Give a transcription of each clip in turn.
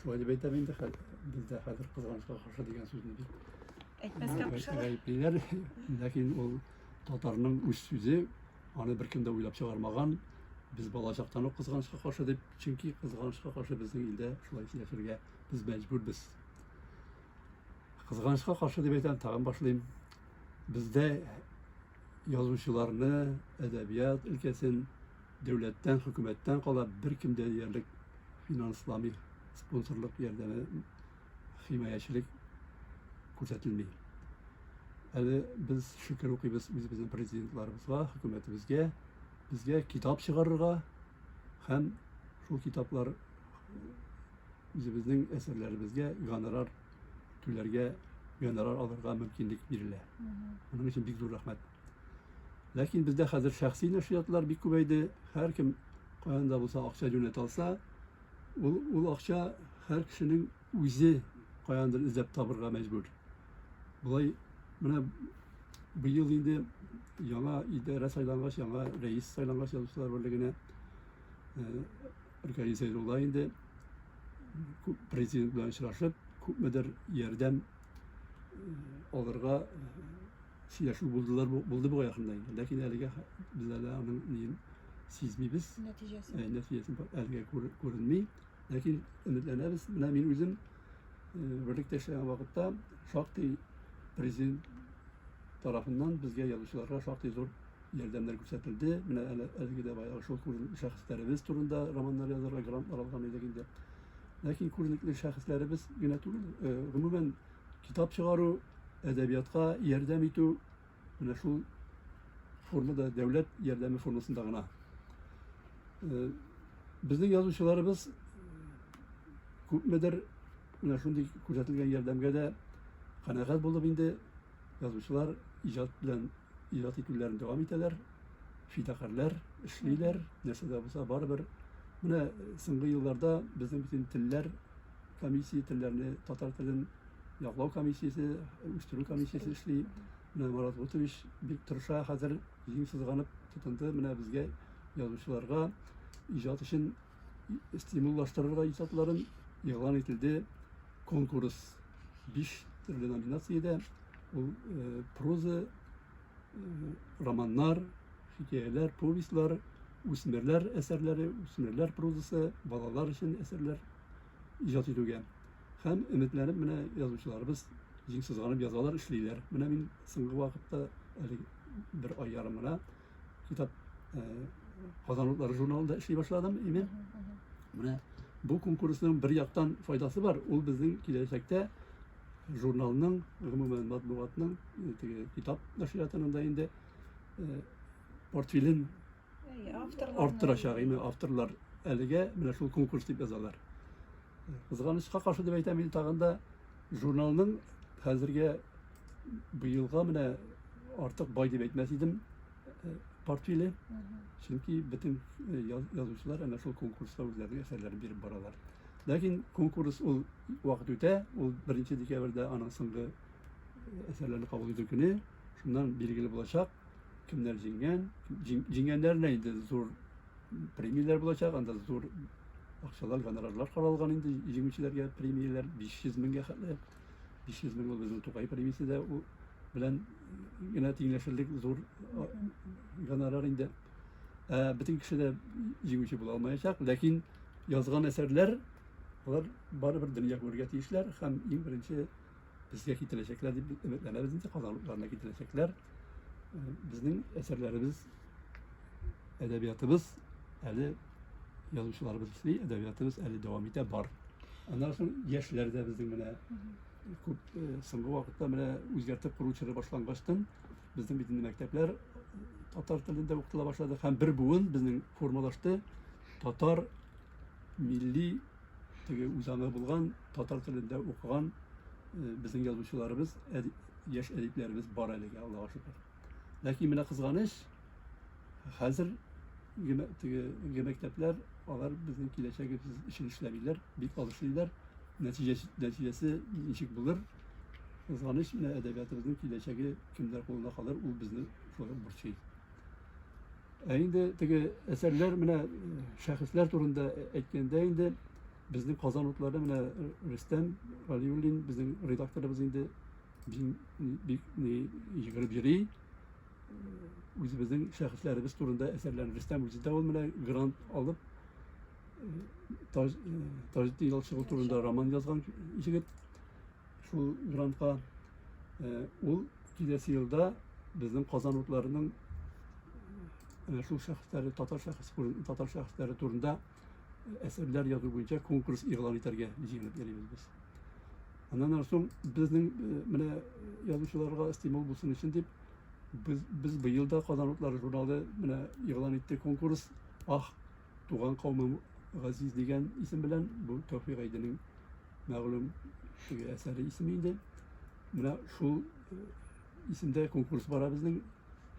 Шулай дип әйтәм инде хәзер. Бездә хәзер кызганычка каршы дигән сүзне бит. Әйтмәскә кушалар. Гаеплиләр, ләкин ул татарның үз сүзе, аны беркем дә уйлап чыгармаган. Без балачактан ук кызганычка каршы дип, чөнки кызганычка каршы безнең илдә шулай яшәргә без мәҗбүрбез. Кызганычка каршы дип әйтәм, тагын башлыйм. Бездә язучыларны, әдәбият өлкәсен Дәүләттән, хөкүмәттән кала беркем дә диярлек финансламый, спонсорлык ярдәме, химаячелек күрсәтелми. Әле без шөкер укыйбыз үзебезнең президентларыбызга, хөкүмәтебезгә, безгә китап чыгарырга һәм шул китаплар үзебезнең әсәрләребезгә гонорар түләргә, гонорар алырга мөмкинлек бирелә. Моның өчен бик зур рәхмәт. Ләкин бездә хәзер шәхси нәшриятлар бик күбәйде. Һәркем каян да булса акча юнәтә алса, ул, ул акча һәр кешенең үзе каяндыр эзләп табырга мәҗбүр. Болай менә быел инде яңа идарә сайлангач, яңа рәис сайлангач язучылар берлегенә Ркаи Зәйрулла инде президент белән очрашып, күпмедер ярдәм алырга сөйләшү булдылар булды бугай якында инде ләкин әлегә без әле аның ниен сизмибез нәтиҗәсен ә, нәтиҗәсен әлегә күренми ләкин өметләнәбез менә мин үзем берлектә эшләгән вакытта шактый президент тарафыннан безгә язучыларга шактый зур ярдәмнәр күрсәтелде менә әле әлеге дә баягы шул шәхесләребез турында романнар язарга грантлар алган идек инде ләкин күренекле шәхесләребез генә түгел гомумән китап чыгару, әдәбиятка ярдәм итү менә шул формада, дәүләт ярдәме формасында гына. Э, безнең язучыларыбыз күпмедер менә шундый күрсәтелгән ярдәмгә дә канәгать булып инде язучылар иҗат белән иҗат итүләрен дәвам итәләр, фидакарьләр эшлиләр, нәрсә дә булса барыбер. Менә соңгы елларда безнең бөтен телләр комиссия телләрне татар телен яклау комиссиясе үстерү комиссиясе эшли менә марат гутович бик тырыша хәзер җиң сызганып тотынды менә безгә язучыларга иҗат өчен стимуллаштырырга иҗатларын игълан ителде конкурс биш төрле номинациядә ул проза романнар, хикәяләр, повестьлар, үсмерләр әсәрләре, үсмерләр прозасы, балалар өчен әсәрләр иҗат итүгә. Һәм өметләнеп менә язучыларыбыз җиң сызганып язалар, эшлиләр. Менә мин соңгы вакытта әле бер ай ярым гына китап э, Казан утлары журналында эшли башладым инде. Менә бу конкурсның бер яктан файдасы бар. Ул безнең киләчәктә журналның, гомумән матбугатның, теге китап нәшриятының да инде портфелен арттырачак, яме авторлар әлегә менә шул конкурс дип язалар. Кызганычка каршы дип әйтәм, мин тагын да журналның хәзергә быелга менә артык бай дип әйтмәс идем портфеле. Чөнки бөтен язучылар әнә шул конкурста үзләренең әсәрләрен биреп баралар. Ләкин конкурс ул вакыт үтә, ул беренче декабрьдә аның соңгы әсәрләрне кабул итү көне, шуннан билгеле булачак, кемнәр җиңгән, җиңгәннәренә инде зур премияләр булачак, анда зур акчалар, гонорарлар каралган инде җиңүчеләргә премияләр 500 меңгә хәтле. 500 мең ул безнең Тукай премиясе дә белән генә тиңләшерлек зур гонорар инде. Ә бөтен кеше дә җиңүче була алмаячак, ләкин язган әсәрләр алар барыбер дөнья күрергә тиешләр һәм иң беренче безгә китерәчәкләр дип өметләнәбез инде казанлыкларына китерәчәкләр безнең әсәрләребез әдәбиятыбыз әле язучыларыбыз эшли әдәбиятыбыз әле дәвам итә бар аннан соң яшьләр дә безнең менә күп соңгы вакытта менә үзгәртеп кору чоры башлангачтан безнең бит инде мәктәпләр татар телендә укытыла башлады һәм бер буын безнең формалашты Татар милли теге үзаңы булган, татар телендә укыган э, безнең язучыларыбыз, яшь әдипләребез бар әлегә, Аллага шөкер. Ләкин менә кызганыч, хәзер теге мәктәпләр алар безнең киләчәгебез өчен эшләмиләр, бик аз эшлиләр. Нәтиҗәсе, нәтиҗәсе ничек булыр? Кызганыч, менә әдәбиятыбызның киләчәге кемдер кулында калыр, ул безне шулай борчый. Ә инде теге әсәрләр менә шәхесләр турында әйткәндә инде безнең Казан утлары менә Рөстәм Галиуллин безнең редакторыбыз инде бик йөгереп йөри. Үзебезнең шәхесләребез турында әсәрләрен Рөстәм үзе дә ул менә грант алып Таҗетдин Ялчыгыл турында роман язган егет. Шул грантка ул киләсе елда безнең Казан утларының шул шәхесләре, татар шәхес, татар шәхесләре турында әсәрләр язу буенча конкурс игълан итәргә җыенып йөрибез без. Аннан соң безнең менә язучыларга стимул булсын өчен дип без, без быел да Казан утлары журналы менә игълан итте конкурс Ах, Туган каумым газиз дигән исем белән бу Тәүфик Гайдинең мәгълүм теге әсәре исеме инде. Менә шул э, исемдә конкурс бара безнең.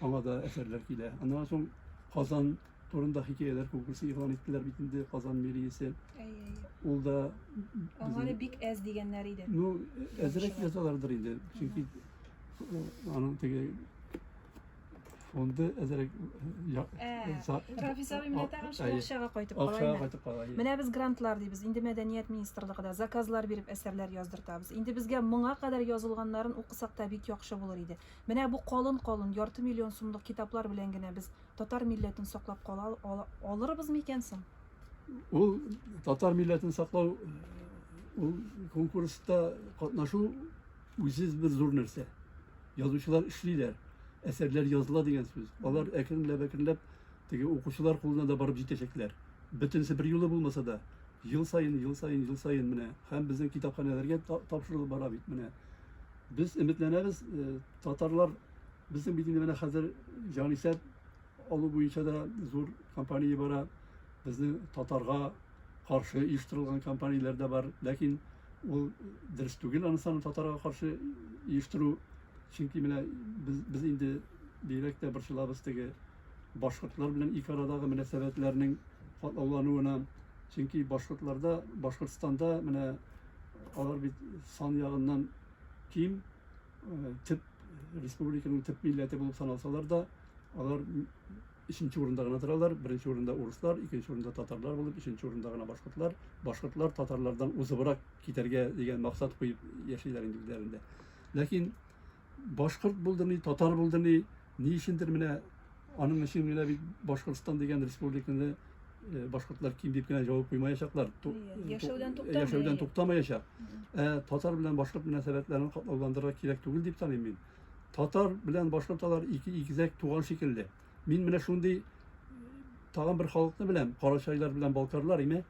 Аңа да әсәрләр килә. Аннан соң Казан турында хикәяләр конкурсы игълан иттеләр бит инде Казан мэриясе. Ул да Аңары бик әз дигәннәр иде. Ну, әзрәк язалардыр инде. Чөнки э, аның теге Фонды әзерәк Рафис абый менә тагын шул акчага кайтып кала. Акчага кайтып кала. Менә без грантлар дибез. Инде мәдәният министрлыгы да заказлар биреп әсәрләр яздыртабыз. Инде безгә моңа кадәр язылганнарын укысак та бик яхшы булыр иде. Менә бу калын-калын ярты миллион сумлык китаплар белән генә без татар милләтен саклап кала алырбыз микән соң? Ул татар милләтен саклау ул конкурста катнашу үзсез бер зур нәрсә. Язучылар эшлиләр, әсәрләр языла дигән сүз. Алар әкренләп-әкренләп теге укучылар кулына да барып җитәчәкләр. Бөтенесе бер юлы булмаса да, ел саен, ел саен, ел саен менә һәм безнең китапханәләргә тапшырылып бара бит менә. Без өметләнәбез, э, татарлар безнең бит инде менә хәзер җанисәп алу буенча да зур компания бара. Безнең татарга каршы оештырылган компанияләр дә бар, ләкин Ул дөрес түгел аны саны татарга каршы оештыру. Чөнки менә без, без инде бигрәк тә борчылабыз теге башкортлар белән ике арадагы мөнәсәбәтләрнең катлаулануына. Чөнки башкортларда, Башкортстанда менә алар бит сан ягыннан ким, э, төп республиканың төп милләте булып саналсалар да, алар Өченче урында гына торалар, беренче урында урыслар, икенче урында татарлар булып, өченче урында гына башкортлар. Башкортлар татарлардан узыбрак китәргә дигән максат куеп яшиләр инде үзләрендә. Ләкин башкорт булды ни, татар булды ни, ни өчендер менә аның өчен генә бит Башкортстан дигән республиканы э, башкортлар ким дип кенә җавап куймаячаклар. Ту- Иә, яшәүдән ту- туктамый. Яшәүдән туктамаячак. Ә татар белән башкорт мөнәсәбәтләрен катлауландырырга кирәк түгел дип таныйм мин. Татар белән башка татар ике икезәк туган шикелле. Мин менә шундый тагын бер халыкны беләм, карачайлар белән балкарлар, име?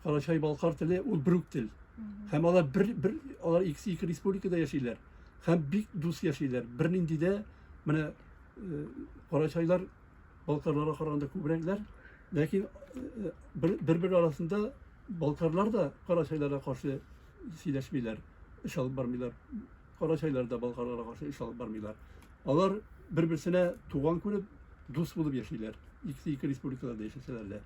Карачай балкар теле ул брук тел. Һәм алар бер бер алар икесе ике республикада яшиләр. Һәм бик дус яшиләр. Бернинди дә менә э, карачайлар балкарларга караганда күбрәкләр, ләкин э, бер-бер арасында балкарлар да карачайларга каршы сөйләшмиләр, эш алып бармыйлар. Карачайлар да болгарларга каршы эш алып бармыйлар. Алар бер-берсенә туган күреп, дус булып яшиләр. Икесе ике республикада да яшәсәләр дә.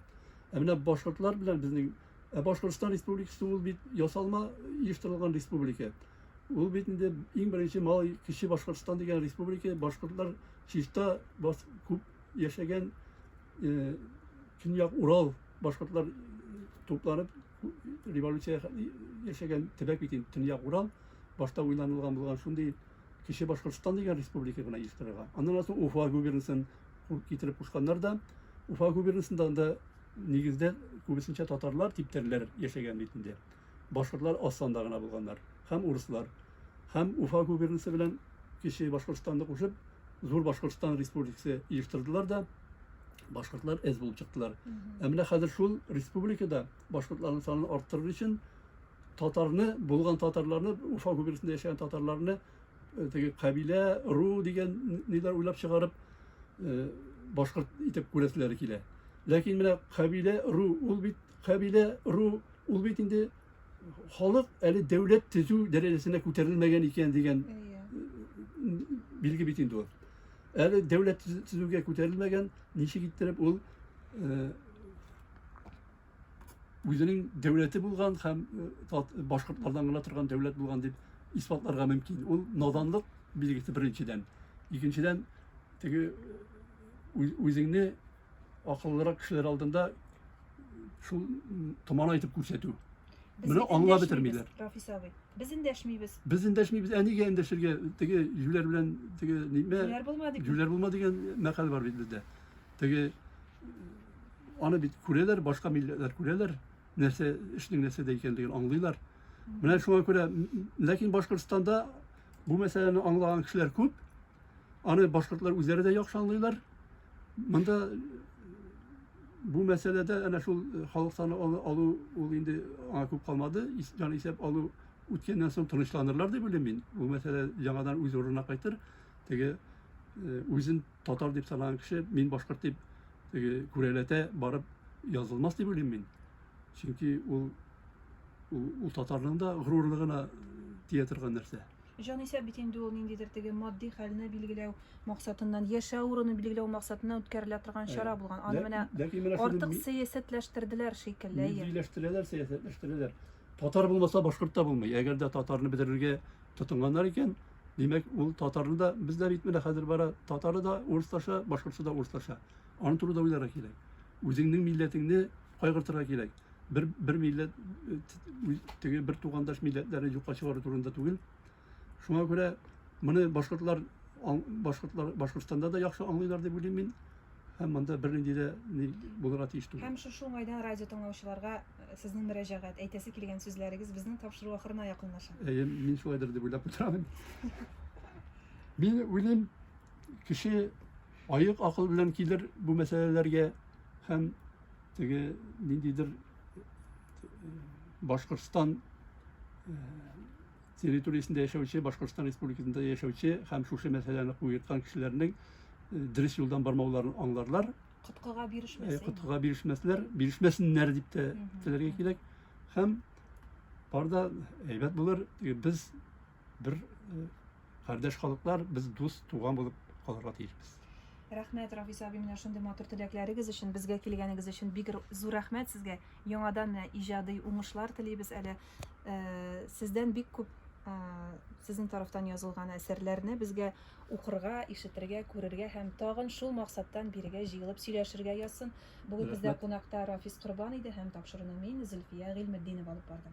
Ә менә башкортлар белән безнең Ә Башкортстан Республикасы ул бит ясалма оештырылган республика. Ул бит инде иң беренче малай кече Башкортстан дигән республика башкортлар чиста бас, күп яшәгән э, көньяк Урал башкортлар тупланып революция яшәгән төбәк бит инде төньяк урал башта уйланылган булган шундый кече башкортстан дигән республика гына оештырырга аннан соң уфа губернасын китереп кушканнар да уфа губернасында да нигездә күбесенчә татарлар типтәрләр яшәгән бит инде башкортлар аз санда гына булганнар һәм урыслар һәм Уфа губернасы белән Кече Башкортстанны кушып, Зур Башкортстан республикасы оештырдылар да, башкортлар әз булып чыктылар. Ә менә хәзер шул республикада башкортларның санын арттырыр өчен татарны, булган татарларны, Уфа губернасында яшәгән татарларны э, теге кабилә, ру дигән ниләр уйлап чыгарып э, башкорт итеп күрәселәре килә. Ләкин менә кабилә, ру, ул бит кабилә, ру, ул бит инде халык әле дәүләт төзү дәрәҗәсенә күтәрелмәгән икән дигән билге бит инде ул. Әле дәүләт төзүгә күтәрелмәгән, ничек иттереп ул үзенең дәүләте булган һәм башкортлардан гына торган дәүләт булган дип исбатларга мөмкин. Ул наданлык билгесе беренчедән. Икенчедән, теге үзеңне акыллырак кешеләр алдында шул томан итеп күрсәтү. Менә аңлап бетермиләр. Рафис абый, без эндәшмибез. Без эндәшмибез, ә нигә эндәшергә? Теге җүләр белән теге нимә? Җүләр булма дип. Җүләр булма дигән мәкаль бар бит бездә. Теге аны бит күрәләр, башка милләтләр күрәләр, нәрсә эшнең нәрсәдә икәнлеген аңлыйлар. Менә шуңа күрә, ләкин Башкортстанда бу мәсьәләне аңлаган кешеләр күп, Аны башкортлар үзләре дә яхшы аңлыйлар. Монда бу мәсьәләдә әнә шул э, халык саны алу ул инде аңа күп калмады. Җан исәп алу үткәннән соң тынычланырлар дип уйлыйм мин. Бу мәсьәлә яңадан үз урынына кайтыр. Теге э, үзен татар дип санаган кеше мин башкорт дип теге күрәләтә барып язылмас дип уйлыйм мин. Чөнки ул ул, ул татарның да горурлыгына э, тия торган нәрсә. Җанисәп бит инде ул ниндидер теге матди хәлне билгеләү максатыннан, яшәү урыны билгеләү максатыннан үткәрелә торган чара Әйе. булган. Аны Лә- менә ләкин менә шуны артык ми- сәясәтләштерделәр шикелле. Әйе. Миллиләштерәләр, сәясәтләштерәләр. Татар булмаса, башкорт та булмый. Әгәр дә татарны бетерергә тотынганнар икән, димәк, ул татарны да, бездә бит менә хәзер бара, татары да урыслаша, башкортчы да урыслаша. Аны турыда уйларга кирәк. Үзеңнең милләтеңне кайгыртырга кирәк. Бер, бер милләт, теге бер тугандаш милләтләрне юкка чыгару турында түгел. Шуңа күрә моны башкортлар, башкортлар, Башкортстанда да яхшы аңлыйлар дип уйлыйм мин. Һәм монда бернинди дә ни булырга тиеш түгел. Һәм шушы уңайдан радио тыңлаучыларга э, сезнең мөрәҗәгать, әйтәсе килгән сүзләрегез безнең тапшыру ахырына якынлаша. Әйе, мин шулайдыр дип уйлап утырам. Мин уйлыйм, кеше Аек акыл белән килер бу мәсьәләләргә һәм теге ниндидер Башкортстан территориясендә яшәүче, Башкортстан республикасында яшәүче һәм шушы мәсьәләне куерткан кешеләрнең дөрес юлдан бармауларын аңларлар. Коткыга бирешмәсен. Коткыга бирешмәсләр, бирешмәсеннәр дип тә теләргә кирәк. Һәм барда әйбәт булыр, без бер кардәш халыклар, без дус, туган булып калырга тиешбез. Рәхмәт, Рафис абый, менә шундый матур теләкләрегез өчен, безгә килгәнегез өчен бик зур рәхмәт сезгә. Яңадан менә иҗади уңышлар телибез әле. Сездән бик күп сезнең тарафтан язылган әсәрләрне безгә укырга, ишетергә, күрергә һәм тагын шул максаттан бирегә җыелып сөйләшергә язсын. Бүген бездә кунакта Рафис Корбан иде һәм тапшыруны мин, Зөлфия Гыйльметдинова алып бардым.